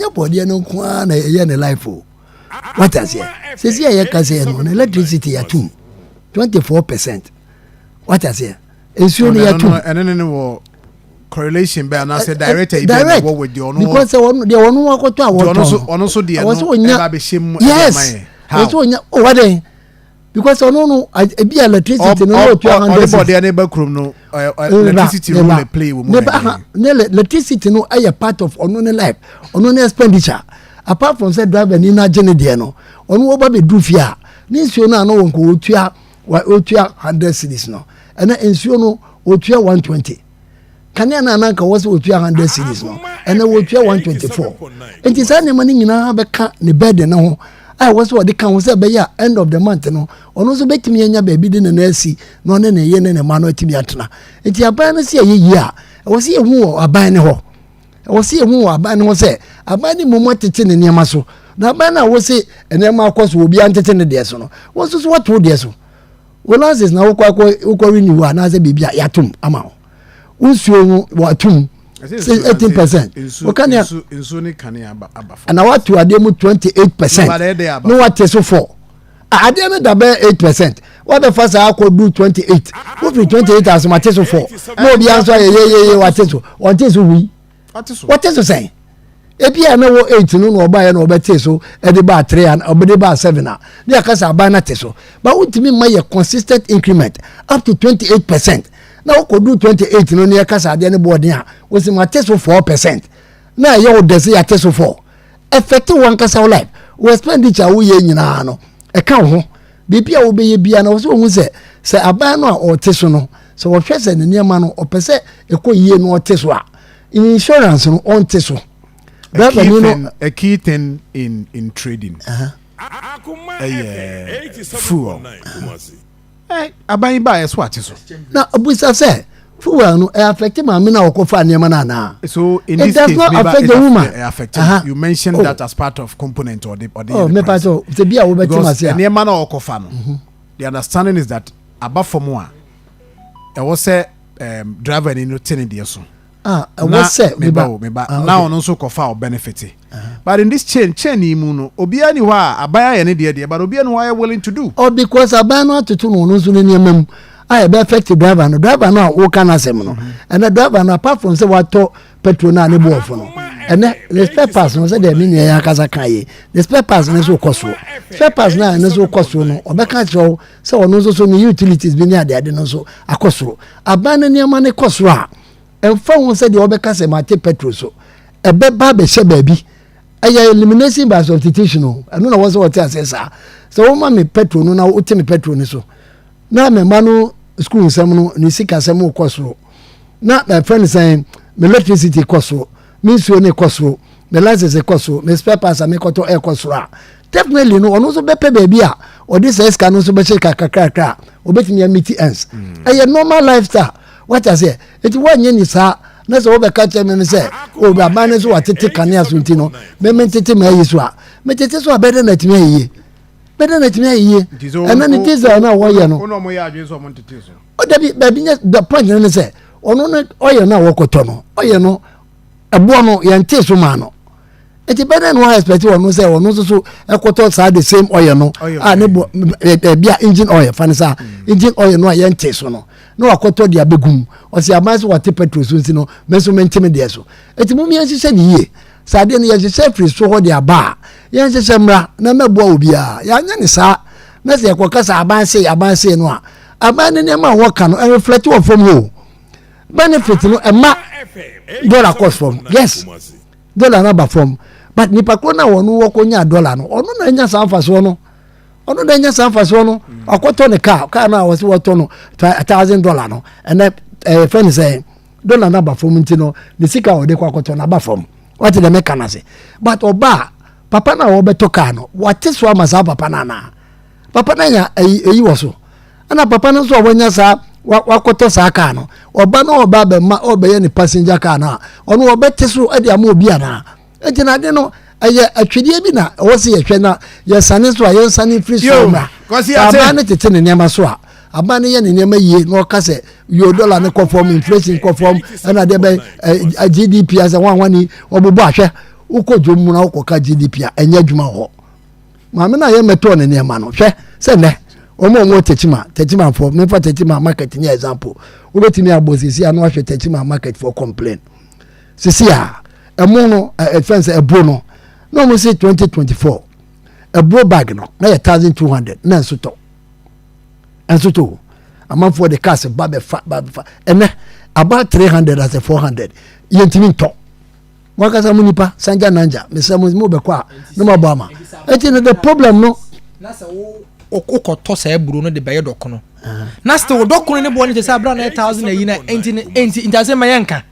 ɛnyɛ bɔdeɛ no nko ara na ɛyɛ ne life o wate aseɛ sɛsi a yɛka sɛ no na electricity yɛatom 24 percent wate aseɛ nsuo no yɛatom ɛne ne ne wɔ correlation bɛ anaasɛ director yi bɛ na ɛwɔ wɔ deɛ ɔno because ɔno deɛ ɔno akɔtɔ a wɔtɔn ɔno nso deɛ no ɛba bɛhyɛ mu ɛyɛ ma yɛ how ɔno nso ɔnya ɔwadɛn because ɔno no ebi electricity no ɔwɔ two hundred six. ɔdebɔdeɛ ne ba kurom no electricity role na play wɔ mu na ɛyɛ. ne electricity no ɛyɛ part of ɔno ne life ɔno ne expenditure apart from sɛ driver ni na gye ne deɛ no ɔno wɔba bɛ duru fie a ne nsuo no a na wɔn kɔ wɔtua wɔtua hundred series no ɛna nsuo no wɔtua one twenty. kanea no a na anka wɔ sɛ wɔtua hundred series no ɛnɛ wɔtua one twenty four nti saa nneɛma no nyinaa bɛka ne bɛɛden no ho a ɛwɔ sɛ ɔde ka ho sɛ ɛbɛyɛ a end of the month no ɔno nso bɛtumi anya baabi de ne nan asi na ɔne ne yɛ ne ne mma no atumi atena nti aban no sɛ ɛyɛ yie a ɛwɔ sɛ yɛhu wɔ aban no hɔ ɛwɔ sɛ yɛhu wɔ aban no hɔ sɛ aban no mmom atete ne nneɛma so na aban no a wɔ se nneɛma akɔ so obiara ntete ne deɛ so no wɔn nso so wɔto deɛ so Wo license na wokɔ akɔ wokɔ renew hɔ anaasɛ biribi a yɛatom ama wo. Wo nsuo ho wɔatom eighteen percent. Woka nea nsuo ne kane aba aba fɔ. Ɛna wato adeɛ mu twenty eight percent. Ne wate so fɔ. Adeɛ no da bɛyɛ eight percent. Wabɛfa saa akɔ du twenty eight. Wofiri twenty eight asoma te so fɔ. Na obiara nso ayɛ yeyeye wate so. Wɔnte so hui. wɔte so sɛn ebi a na wɔ eight no na ɔbaeɛ na ɔbɛte so ɛde baa three and ɔbɛde baa seven a ne yɛ kasa aban na te so ba wontumi mma yɛ consistent increment up to twenty eight percent na wokɔdu twenty eight no ne yɛ kasa adeɛ ne bɔɔden a wosi ma te so four percent na ɛyɛ wo dɛsɛ yɛ te so four ɛfɛte wɔn kasa wo life wɔ expenditure a woyɛ nyinaa no ɛka wo ho Biribi a wobɛyɛ biara no, wɔ sɛ wɔhu sɛ sɛ aban no a ɔte so no, sɛ wɔhwɛ sɛ ne nneɛma no ɔpɛ sɛ ɛkɔ yie no ɔte so a, insurance no ɔnte so. A key, thing, a key thing in, in trading uh-huh. ɛyɛ fuel. Aban yi baa ɛso ate so. Na ɔbusa sɛ, fuel no ẹ affect maame na ọkọ fa nneɛma na ana. so in this case meba it affect the woman ẹ affect uh -huh. you mentioned oh. that as part of component or the or the. ọ mẹpa sọ ṣe bi a wọ́n bẹ tí ma ṣe a. nneɛma na ọkọ fa no mm-hmm. the understanding is that aba fam a ẹwọ sẹ um, driver ni no te ne deɛ so. ah ẹwọ sẹ meba o meba ah, na ọno nso kọ fa ọ benefit. Uh-huh. but in this chain chain yi mu no obiara ni hɔ a aban ayɛ ne deɛ deɛ but obiara ni hɔ ayɛ willing to do. ọ oh, because aban no atoto na ọno nso ne nneɛma mu. a ɛbɛ affect driver no driver no a woka no asɛm no ɛnɛ driver no apart from sɛ watɔ petrol no a ne bo ɔfo no ɛnɛ ne spare parts no sɛdeɛ me nua yɛ akasa ka yɛ ne spare parts no nso kɔ soɔ spare parts no a ɛno nso kɔ soɔ no ɔbɛka kyerɛ wo sɛ ɔno nso so ne utilities bi ne adeade no nso akɔ soro aban no nneɛma no kɔ soro a ɛmfa ho sɛdeɛ wɔbɛka sɛ mate petrol so ɛbɛba abɛhyɛ baabi ɛyɛ elimination by substitution o ɛno na wɔsɛ wɔte aseɛ saa sɛ wɔma me petrol no na wote me petrol no so na me mma no sukuu nsɛm no ne sikasɛm kɔ soro na ɛfɛ no sɛn me electricity kɔ soro me nsuo ne kɔ soro me license kɔ soro me spare parts a mekɔtɔ ɛkɔ soro a definitely no ɔno nso bɛpɛ baabi a ɔde sɛ sika no nso bɛhyɛ kakrakrakra a ɔbɛtumi amiti ends mm. ɛyɛ normal lifestyle wata sɛ ɛti woanyɛ ni saa na sɛ wobɛka kyerɛ me no sɛ ɔbraban no so watete kanea so nti no meme ntete ma ayi so a metete so a bɛdɛ na atumi ayie bɛdɛ na tumi ayɛ yie ɛna ne diesel na wɔyɛ no ɔno ɔmo yɛ adwene sɛ ɔmo ntete so ɔdabi baabi nyɛ the point ne sɛ ɔno ne ɔyɛ no a wɔkɔtɔ no ɔyɛ no ɛboɔ no yɛn te so maa no nti bɛdɛ na wɔn expect wɔn sɛ wɔn nso so ɛkɔtɔ saa the same ɔyɛ no a ne bɔ ɛbi a engine oil fa ne saa mm. engine oil no a yɛn te so no na wakɔtɔ deɛ abɛgum ɔsi aban so wɔte petrol so nsi no mɛ nso mɛ ntɛmɛ deɛ so eti mu mmiɛnsi sɛ ne yie. Sɛ adeɛ no yɛhyehyɛ firi so hɔ de aba a, yɛnhyehyɛ mmra na mɛboa obiara. Yɛanyɛ ne saa na sɛ yɛkɔka sɛ aban sei aban sei no a, aban no nneɛma a wɔka no ɛreflɛte wɔ fam hɔ o. Benefit no ɛma dɔla kɔ fam. Yes, dɔla no aba fam. But nipa koro no a wɔn wɔkɔnya dɔla no, ɔno na anya saa mfasoɔ no ɔno na anya saa mfasoɔ no ɔkɔtɔ ne kaa kaa no a wɔsi wɔtɔ no thousand dollar no ɛnɛ ɛyɛ fɛn sɛ dɔla no aba fam nti no ne sika a ɔde kɔ akɔtɔ no aba fam wate dɛ meka no ase but ɔba a papa no a wɔbɛtɔ kaa no wate so ama saa papa no anaa papa no anya ɛyi wɔ so ɛna papa no nso a wɔanya saa wakɔtɔ saa kaa no ɔba no ɔba bɛma ɔbɛyɛ ne passenger kaa no a ɔno ɔbɛte so de ama obi anaa Eti na ade no ɛyɛ atwedeɛ bi na ɛwɔ sɛ yɛhwɛ na yɛsane nso a yɛnsane mfiri so mmra sɛ aban no tete ne nneɛma so a aban no yɛ ne nneɛma yie na ɔka sɛ yo dɔla no kɔ fam inflation kɔ fam ɛna deɛ bɛn eh, gdp asɛ wɔn a wɔn ani wɔbobɔ ahwɛ wokɔ dwom mu na wokɔka gdp a ɛnyɛ adwuma wɔ hɔ maame no a yɛmmɛtɔɔ ne nneɛma no hwɛ sɛ nnɛ wɔn a wɔn tɛkyima tɛkyima fo mefa tɛkyima market nyɛ example wobɛtumi abɔ sisi ano ahwɛ tɛkyima market for complain sisi a ɛmo no ɛfɛn sɛ ɛburo no na wɔn si twenty twenty four ɛburo bag no na yɛ thousand two hundred na nso tɔ nso tɔ amanfoɔ de cars ba bɛfa ba bɛfa ɛnɛ about three hundred as a four hundred yɛntumi ntɔ mo akasa mo nipa sanja nanja mesɛ mo mo bɛkɔ a na mo abɔ ama ɛti no the problem no. na sɛ wo wokɔtɔ saa aburo no de bɛyɛ dɔkono ah. na sɛ wo dɔkono ne boɔ no te sɛ abira na yɛ thousand ayi na ɛnti ɛnti nti asɛm ma yɛnka.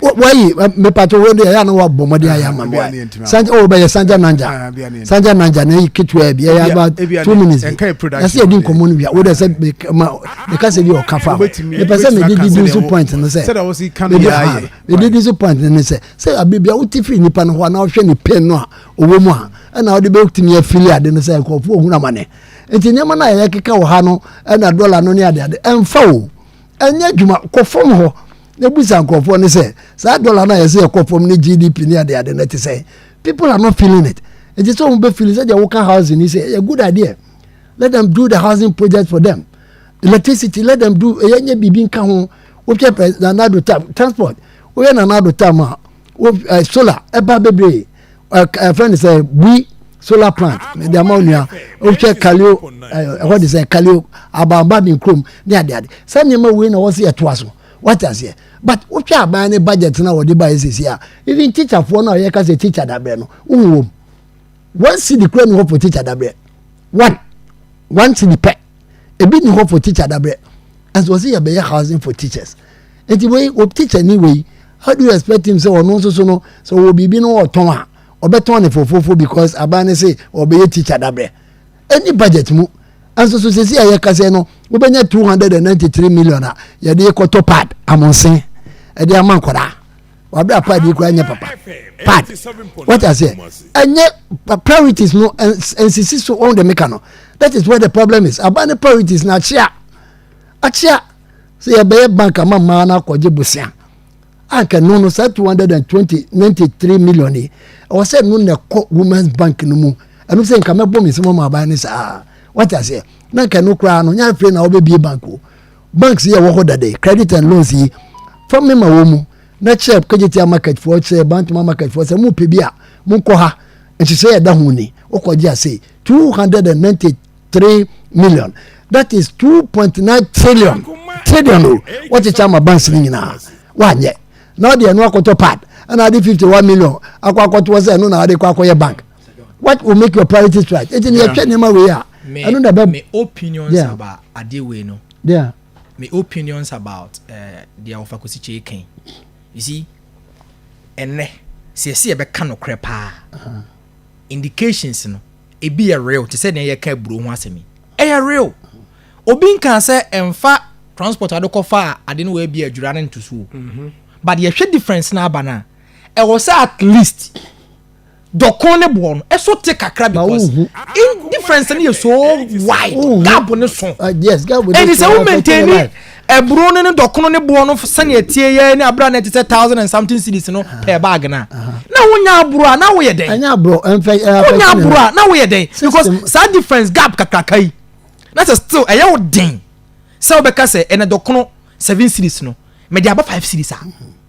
wayi mepatɔ wei deɛ ɛyɛ na wabɔ mmɔden ayɛ ama me sanja o bɛyɛ sanja nanja sanja nanja na ɛyi ketewa bi ɛyɛ aba two minutes bi ɛsɛ yɛdi nkɔmmɔ no wia wo deɛ sɛ meka sɛ bi ɔka fa mepɛ sɛ mede didi so point no sɛ mede di so point no ne sɛ sɛ abibia wote firi nnipa no hɔ a na wohwɛ ne pain no a ɔwɔ mu a ɛna wode bɛtumi afili ade no sɛ nkurɔfoɔ ɔhunu amane nti nneɛma no a yɛkeka wɔ ha no ɛna dɔla no ne adeade ɛmfa o ɛnyɛ adwuma kɔ fam hɔ na ebusa nkurɔfoɔ ne sɛ saa dɔla no a yɛsɛ yɛkɔ fam ne gdp ne ade ade no te sɛ people are not feeling it ɛte sɛ wɔn bɛ feel sɛ deɛ wɔka housing ni sɛ ɛyɛ good idea let them do the housing project for them electricity let them do ɛyɛ nyɛ biribi nka ho wohwɛ pɛ nanado tam transport woyɛ nanado tam a wo ɛ solar ɛba bebree ɛfɛ ne sɛ bui solar plant mede ama wo nua wohwɛ kaleo ɛhɔ de sɛ kaleo abanba ne kurom ne adeade sɛ nneɛma wei na wɔ se yɛtoa so wate aseɛ but wohwɛ aban ne budget no a wɔde baeɛ sɛsi a even teacherfoɔ no a yɛka sɛ teacher daberɛ no wohu wɔm one city kura ne hɔ for teacher daberɛ one one city pɛ ebi ni hɔ for teacher dabrɛ ɛnso wɔsi yɛ bɛyɛ housing for teachers eti wei wɔ teacher ni wei how do you expect him sɛ ɔno nso so no sɛ ɔwɔ biribi no ɔtɔn a ɔbɛtɔn ne fofofo because aban ne se ɔbɛyɛ teacher dabrɛ ɛni budget mu ɛnso so sisi a yɛkasa no wobɛnya two hundred and ninety three million a yɛde kɔtɔ pad amonsen ɛde ama nkwadaa. wabe apad yi koraa nyɛ papa pad wɔte aseɛ ɛnyɛ priorities no nsisi so wɔn de meka no that is where the problem is aban ne priorities na akyea akyea sɛ yɛbɛyɛ bank ama mmaa no akɔgye bosia anka no no saa two hundred and twenty ninety three million yi ɛwɔ sɛ no na ɛkɔ women's bank no mu ɛno sɛ nka mɛbɔ me nsɛm ɔmo aban ne saa wɔte aseɛ na nka no koraa no nyɛ afei na wɔbɛbie bank o. banks yi a ɛwɔ hɔ dada yi credit and loans yi fa me ma wɔn mu na kyerɛ kagyetia market foɔ kyerɛ bantama market foɔ sɛ mo pɛ bi a mo nkɔ ha nhyehyɛ yɛ da ho ni wokɔ gye ase two hundred and ninety three million that is two point nine trillion trillion o wɔkyekyɛ ama banks no nyinaa wɔanyɛ na ɔde ɛno akɔtɔ pad ɛna ade fifty one million akɔ akɔtoɔ sɛ ɛno na ade kɔ akɔyɛ bank what will make your priorities right eti ni ɛtwɛ nneɛma wei a ɛno na ɛbɛ. me opinions yeah. about adeɛ wei no. Yeah. me opinions about eh, deɛ uh, ɔfa kosi kyee kan you see ɛnɛ sɛ ɛsi ɛbɛka no korɛ paa uh-huh. indications no ebi yɛ real te sɛ deɛ yɛka aburo ho asɛm yi ɛyɛ real obi nka sɛ ɛnfa transport adokɔfa a ade no wɔ ebi adwira ne ntosuo mm-hmm. but yɛhwɛ difference na aba no a ɛwɔ sɛ at least. Dɔ kɔn ne boɔ no ɛso te kakra because in difference no yɛ so wide gap ne so ɛnti sɛ wo maintain ni ɛburo no ne dɔ kɔn ne boɔ no sɛnea tie yɛ ne abira na ɛte sɛ thousand and something cities no per bag na na wo nya aburo a na wo yɛ dɛn wo nya aburo a na wo yɛ dɛn because saa difference gap kakraka yi na sɛ still ɛyɛ wo den sɛ wobɛka sɛ ɛnɛ dɔ kɔn seven cities no mɛ de aba five cities a.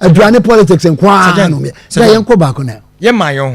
aduane politics nko ara na ɔmyɛ sɛ yɛnkɔ baako na yɛma yɛn ho